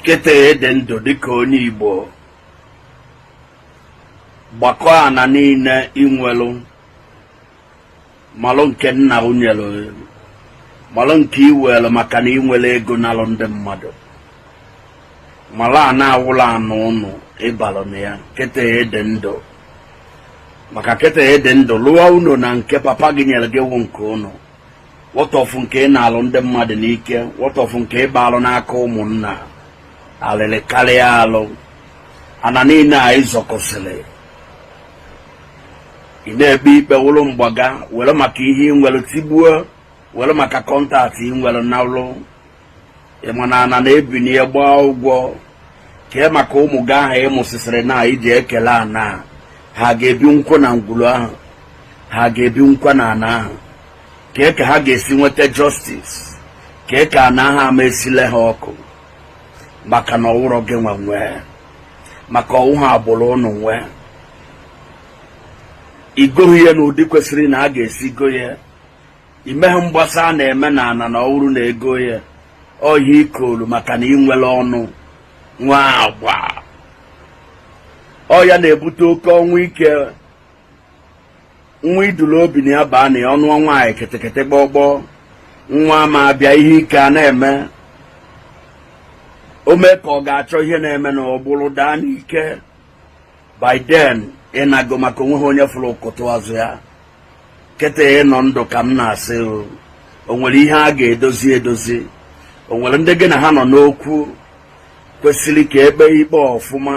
kịta ịdị ndụ dịka onye Igbo gbakọ ana niile inwelu malụ nke nna ụ nyelu malụ nke iwelu maka na inwere ego nalụ ndị mmadụ malụ ana awụrọ ana ụnụ ịbalụ na ya kịta ịdị ndụ maka kịta ịdị ndụ lụọ ụnọ na nke papa gị nyere gị wụ nke ụnụ wọtọfụ nke ị nalụ ndị mmadụ n'ike wọtọfụ nke ịbaalụ n'aka ụmụnna alịrị karịa alụ ana niile a ịzọkọsịrị ị na-ebi ikpe wụrụ mgbaga were maka ihe ị nwere tigbuo were maka contact ị nwere na ị ma na ana na-ebinye gbaa ụgwọ kee maka ụmụ gị ahụ ịmụsịsịrị na iji ekele ana ha ga-ebi nkwa na ngwuru ahụ ha ga-ebi nkwa na ana ahụ kee ka ha ga-esi nweta justice kee ka ana ahụ ama esile ha ọkụ maka na ọwụrọ gị nwe nwee maka ọwụghị agbụrụ ụnụ nwee igoghị ya na ụdị kwesịrị na a ga-esi go ya imeghị mgbasa a na-eme na ana na ọwụrụ na ego ya ọ ihe ikwolu maka na inwere ọnụ nwee agba ọ ya na-ebute oke ọnwụ ike nwa iduru obi na ya baa na ya ọnụ nwaanyị kịtịkịtị gbọgbọ nwa ma abịa ihe ike a na-eme o mee ka ọ ga-achọ ihe na-eme na ọgbụrụ daa n'ike by then ịnago maka onweghị onye fụrụ ụkụtụ azụ ya kịta ịnọ ndụ ka m na-asị o nwere ihe a ga-edozi edozi o nwere ndị gị na ha nọ n'okwu kwesịrị ka ekpe ikpe ọfụma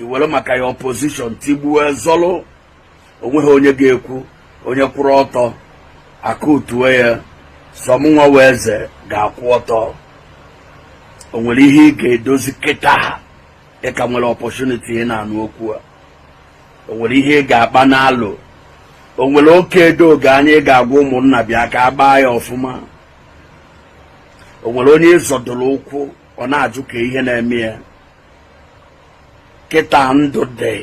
iwere maka your position tigbuo zọlụ onweghị onye ga-ekwu onye kwụrụ ọtọ akụtuo ya sọ mụnwa wụ eze ga-akwụ ọtọ o nwere ihe ị ga-edozi kịta a ị ka nwere opportunity ị na-anụ okwu a o nwere ihe ị ga-akpa nalụ o nwere oke edoghị anya ị ga-agwa ụmụnna bịa ka a gbaa ya ọfụma o nwere onye ịzọdoro ụkwụ ọ na-ajụ ka ihe na-eme ya kịta ndụ dị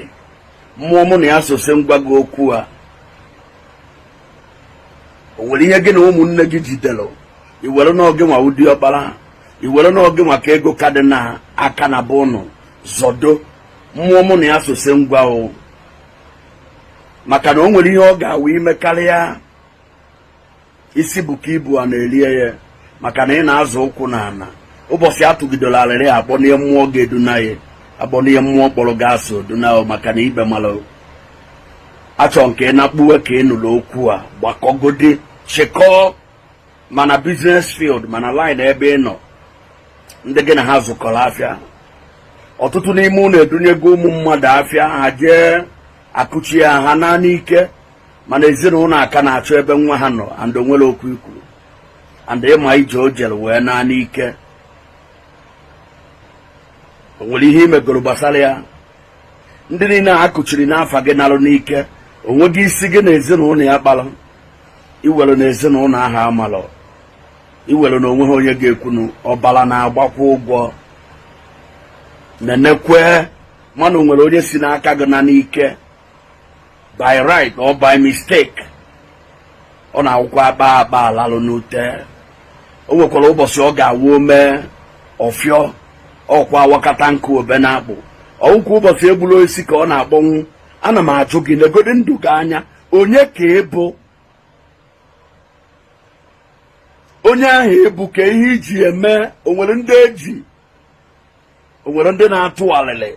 mmụọ mụ na ya so sị m gwa gị okwu a o nwere ihe gị na ụmụnne gị jidere iwere na ọ gịnwa wụ diọkpara iwere na ọ gịnwa ka ego ka dị na aka na be ụnụ zọdo mmụọ mụ na ya so sị m gwa ụ maka na o nwere ihe ọ ga-awụ imekarịa isi buka ibu ana erie ya maka na ị na-azọ ụkwụ na ana ụbọchị atụgidoro arịrị akpọnye mmụọ ga-eduna ya akpọnye mmụọ kpọrọ gị asị o duna maka na ikpe mara achọ nke ị na-akpụwe ka ị nụrụ okwu a gbakọgodi chịkọọ ma na business field ma na line ebe ị nọ ndị gị na ha zụkọrọ afịa ọtụtụ n'ime unu edunyego ụmụ mmadụ afịa ha jee akụchie ha naa n'ike mana ezinụlọ ha ka na-achọ ebe nwa ha nọ and onwere okwu ikwu and ịma ije o jere wee naa n'ike o nwere ihe imegoro gbasara ya ndị niile a kụchiri n'afa gị narụ n'ike onweghị isi gị na ezinụlọ ya kpara iwere na ezinụlọ ahụ amalọ iwere na onwe ha onye ga-ekwunu ọbara na-agbakwa ụgwọ nenekwe ma na o nwere onye si n'aka gị naa n'ike by right or by mistake ọ na-awụkwa akpa akpa alalụ n'ute o nwekwara ụbọchị ọ ga-awụ ome ọfịọ ọkwa awakata nkụ obe n'akpụ ọwụkwa ụbọchị egburu osisi ka ọ na-akpọnwụ ana m ajụ gị negodi ndụ gị anya onye ka ịbụ onye ahụ ịbụ ka ihe iji eme onwere ndị eji onwere ndị na-atụ alịlị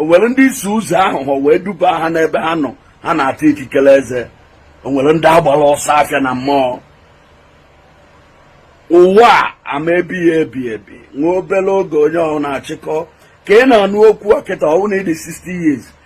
onwere ndị isi ụzọ aghụghọ wee duba ha n'ebe ha nọ ha na-ata ikikere eze onwere ndị agbara ọsọ afịa na mmụọ ụwa ama ebi ya ebi ebi nwa obere oge onye ọhụrụ na-achịkọ ka ị na-anụ okwu a kịta ọ wụ na ịdị 60 years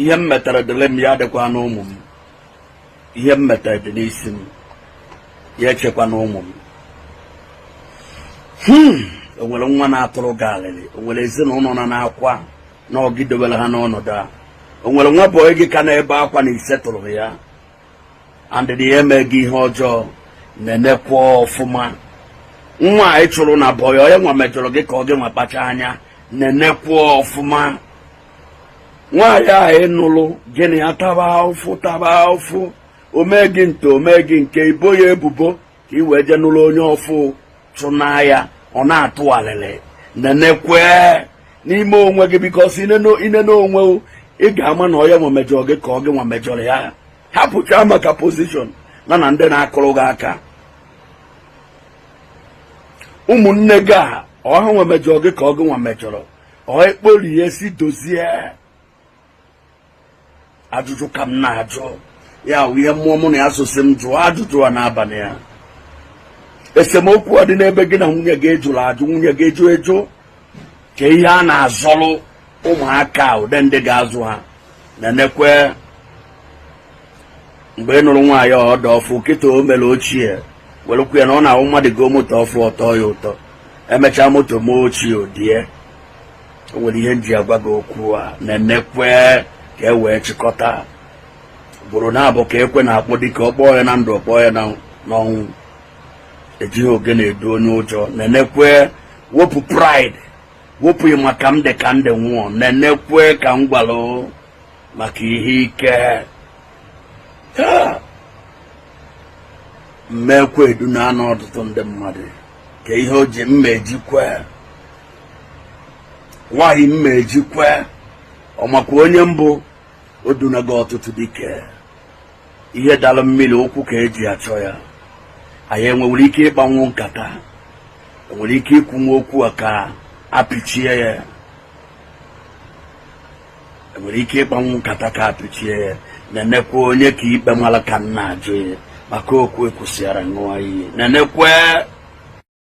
ihe m metere dịlị m ya adịkwana ụmụ m ihe m metere dị n'isi m ya echekwana ụmụ m hmm, o nwere nwa na-atụrụ gị alịlị o nwere ezinụlọ na na-akwa na ọ gị dewere ha n'ọnọdụ a o nwere nwa boy gị ka na-ebe akwa na isetụrụ ya and ịsị ya eme gị ihe ọjọọ nenekwa ọfụma nwa ahụ ị chụrụ na boy ọ ya nwa mejọrọ gị ka ọ gị nwa kpacha anya nenekwa ọfụma nwaanyị ahụ ịnụlụ gị na ya taba ụfụ taba ụfụ omee gị nta omee gị nke ibo ya ebubo ka ị wee jee nụlụ onye ọfụ chụnaa ya ọ na-atụ alịlị nenekwe n'ime onwe gị because ine n'onwe ị ga-ama na ọ ya nwa mejọrọ gị ka ọ gị nwa mejọrọ ya hapụcha maka position na na ndị na-akụrụ gị aka ụmụnne gị a ọ ha nwa mejọrọ gị ka ọ gị nwa mejọrọ ọ ekpori ya si dozie ajụjụ ka m na-ajụ ya wụ ihe mmụọ mụ na ya so sị m jụọ ajụjụ a n'abalị a esemokwu a dị n'ebe gị na nwunye gị ejụrụ ajụ nwunye gị ejụ ejụ ka ihe a na-azọrụ ụmụaka ụdị ndị ga-azụ ha nenekwe mgbe ị nụrụ nwaanyị ọ dị ọfụ kịta o mere ochie welụkwu ya na ọ na-abụ mmadụ goo moto ọfụ ọ tọọ ya ụtọ emechaa moto mee ochie o die o nwere ihe m ji agwa gị okwu a nenekwe ka e wee chịkọta ugboro naabọ ka ekwe na-akpọ dike ọ kpọọ ya na ndụ ọ kpọọ ya n'ọnwụ ejighị ogene edu onye ụjọ nenekwe wepụ pride wepụ ị ma ka m dị ka ndị nwụọ nenekwe ka m gwalụ maka ihe ike m ma ekwe edunaana ọtụtụ ndị mmadụ ka ihe o ji mma ejikwe nwaanyị mma ejikwe ọ makwa onye m bụ o dunago ọtụtụ dike ihe dara mmiri ụkwụ ka eji achọ ya anyị enwere ike ịkpanwu nkata enwere ike ikwunwu okwu a ka apịchie ya enwere ike ịkpanwu nkata ka apịchie ya nenekwe onye ka ikpe mara ka m na-ajụ ya maka okwu e kwusịara ṅụọ iyi nenekwe